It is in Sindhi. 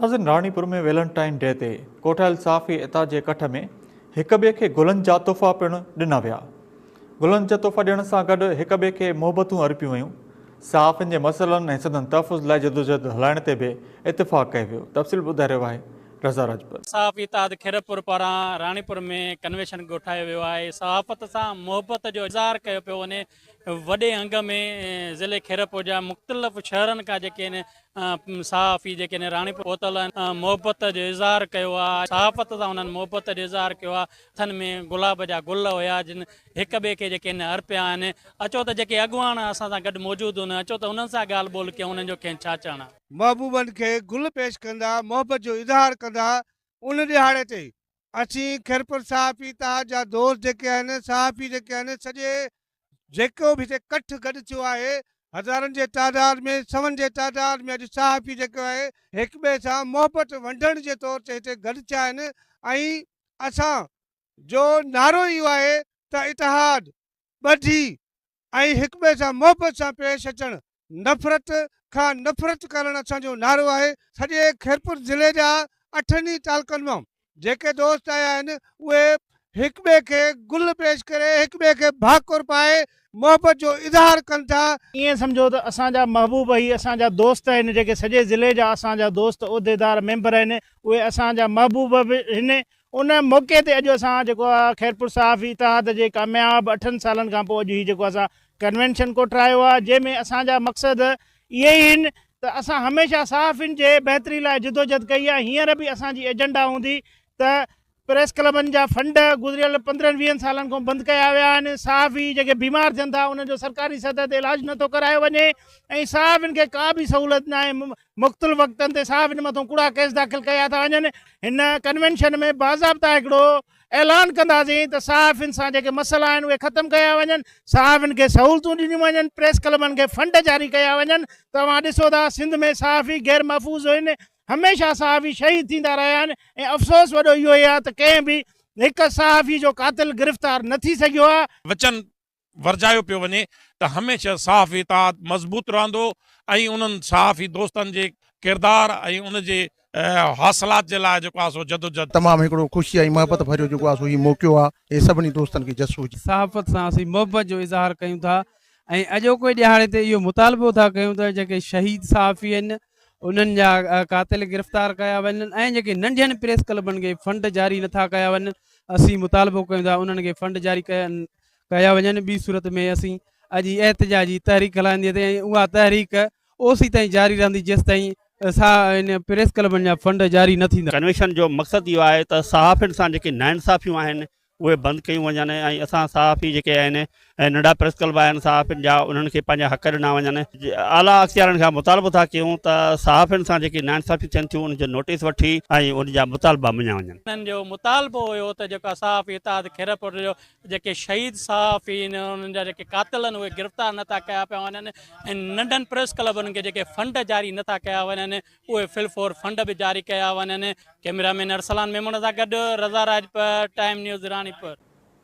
ناظرين راڻي پور ۾ ويلنٽائن ڊي تي ڪوٺايل صحافي اتحاد جي اڪٺ ۾ هڪ ٻئي کي گلن جا تحفا پڻ ڏنا ويا گلن جا تحفا ڏيڻ سان گڏ هڪ ٻئي کي محبتون ارپيون ويون صحافين جي مسئلن ۽ سندن تحفظ لاء جدوجهد هلائڻ تي به اتفاق ڪيو ويو تفصيل ٻڌائي رهيو آهي رضا راجپر. صحافي اتحاد خيرپور پاران راڻيپور ۾ ڪنويشن ڪوٺايو ويو آهي صحافت سان محبت جو اظهار ڪيو پيو وڃي وڏي انگ ۾ ضلعي خيرپور جا مختلف شهرن کان جيڪي صحافي جيڪي هن راڻيپور پهتل آهن محبت جو اظهار ڪيو آ صحافت سان انهن محبت جو اظهار ڪيو آ هٿن ۾ گلاب جا گل هيا جن هڪ ٻئي کي جيڪي هن ارپيا آهن اچو ته جيڪي اڳواڻ اسان سان گڏ موجود هن اچو ته انهن سان ڳالهه ٻولهه ڪيون انهن جو کين ڇا چئڻ آ. محبوبن کي گل پيش ڪندا محبت جو اظهار ڪندا ان ڏهاڙي تي اسين خيرپور صحافي اتحاد جا دوست جيڪي آهن صحافي جيڪي آهن سڄي جيڪو به هتي ڪٺ گڏ ٿيو آهي، هزارن جي تعداد ۾ سون جي تعداد ۾ اڄ صحافي جيڪو آهي هڪ ٻئي سان محبت ونڊڻ جي طور تي هتي گڏ ٿيا آهن ۽ اسان جو نعرو اهو آهي ته اتحاد، ٻڌي ۽ هڪ ٻئي سان محبت سان پيش اچڻ نفرت کان نفرت ڪرڻ اسان جو نعرو آهي، سڄي خيرپور ضلعي جا اٺن ئي تعلقن مان جيڪي دوست آيا آهن اهي هڪ ٻئي کي گل پيش ڪري هڪ ٻئي کي ڀاڪر پائي محبت جو اظهار ڪن ٿا، ائين سمجهو ته اسان جا محبوب هي اسان جا دوست آهن جيڪي سڄي ضلعي جا اسان جا دوست عهديدار ميمبر آهن اهي اسان جا محبوب به هن ان موقعي تي اڄ اسان جيڪو آ خيرپور صحافي اتحاد جي ڪامياب اٺن سالن کان پوء اڄ هي جيڪو اسان ڪنوينشن ڪوٺرايو آ جنهن ۾ اسان جا مقصد اهي ئي آهن ته اسان هميشه صحافين جي بهتري لاء جدوجهد ڪئي آ هينئر به اسان جي ايجنڊا هوندي ته پريس ڪلبن جا فنڊ گذريل پندرهن ويهن سالن کون بند ڪيا ويا آهن صحافي جيڪي بيمار ٿين ٿا انهن جو سرڪاري سطح تي علاج نٿو ڪرايو وڃي ۽ صحافين کي ڪا به سهولت ناهي مختلف وقتن تي صحافين مٿون ڪوڙا ڪيس داخل ڪيا ٿا وڃن هن ڪنوينشن ۾ باضابطا هڪڙو اعلان ڪنداسين ته صحافين سان جيڪي مسئلا آهن اهي ختم ڪيا وڃن صحافين کي سهولتون ڏنيون وڃن پريس ڪلبن کي فنڊ جاري ڪيا وڃن توهان ڏسو ٿا سنڌ ۾ صحافي غير محفوظ هين هميشه صحافي شهيد ٿيندا رهيا آهن ۽ افسوس وڏو اهو ئي آهي ته ڪنهن به هڪ صحافي جو قاتل گرفتار نه ٿي سگهيو آهي وچن ورجايو پيو وڃي ته هميشه صحافي اتحاد مضبوط رهندو ۽ انهن صحافي دوستن جي ڪردار ۽ ان جي حاصلات جي لاء جيڪو آهي سو جدوجھد تمام هڪڙو خوشي ۽ محبت ڀريو جيڪو آهي سو هي موقعو آهي اهي سڀني دوستن کي جس هجي. صحافت سان اسين محبت جو اظهار ڪيون ٿا ۽ اڄوڪي ڏهاڙي تي اهو مطالبو ٿا ڪيون ته جيڪي شهيد صحافي آهن انهن جا قاتل گرفتار ڪيا وڃن ۽ جيڪي ننڍين پريس ڪلبن کي فنڊ جاري نٿا ڪيا وڃن اسين مطالبو ڪيون ٿا انهن کي فنڊ جاري ڪيا ڪيا وڃن ٻي صورت ۾ اسين اڄ ئي احتجاجي تحريڪ هلائندي تي ۽ اها تحريڪ اوسي تائين جاري رهندي جيس تائين سا ان پريس ڪلبن جا فنڊ جاري نه ٿيندا. ڪنويشن جو مقصد اهو آهي ته صحافين سان جيڪي ناانصافيون آهن اهي بند ڪيون وڃن ۽ اسان صحافي جيڪي آهن ۽ ننڍا پريس ڪلب آهن صحافين جا انهن کي پنهنجا حق ڏنا وڃن. اعليٰ اختيارين کان مطالبو ٿا ڪيون ته صحافين سان جيڪي ناانصافيون ٿين ٿيون ان جو نوٽيس وٺي ۽ ان جا مطالبا مڃيا وڃن. انهن جو مطالبو هيو ته جيڪا صحافي اتحاد خيرپور جو جيڪي شهيد صحافي آهن انهن جا جيڪي قاتل آهن اهي گرفتار نٿا ڪيا پيا وڃن ۽ ننڍن پريس ڪلبن کي جيڪي فنڊ جاري نٿا ڪيا وڃن اهي فل فور فنڊ به جاري ڪيا وڃن ڪيمرا مين ارسلان ميمڻ سان گڏ رضا راجپر ٽائيم نيوز راڻيپور